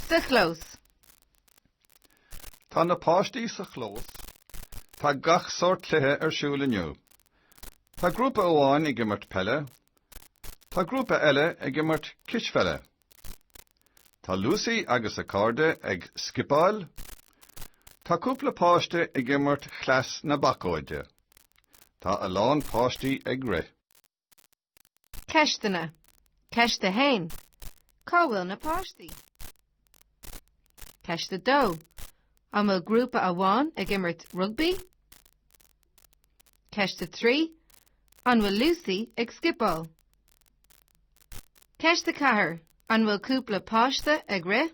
Sa chlós. Tá na páistí sa chlós. Tá gach sórt cluiche ar siúl inniu. Tá grúpa amháin ag imirt peile. Tá grúpa eile ag imirt cispheile. Tá Lucy agus a cairde ag scipeáil. Tá cúpla páiste ag imirt chleas na bacóide. Tá a lán páistí ag rith. Ceisteanna. Ceist 1. Cá bhfuil na páistí? Ceist 2. An bhfuil grúpa amháin ag imirt rugbaí? Ceist 3. An bhfuil Lucy ag scipeáil? Ceist 4. An bhfuil cúpla páiste ag rith?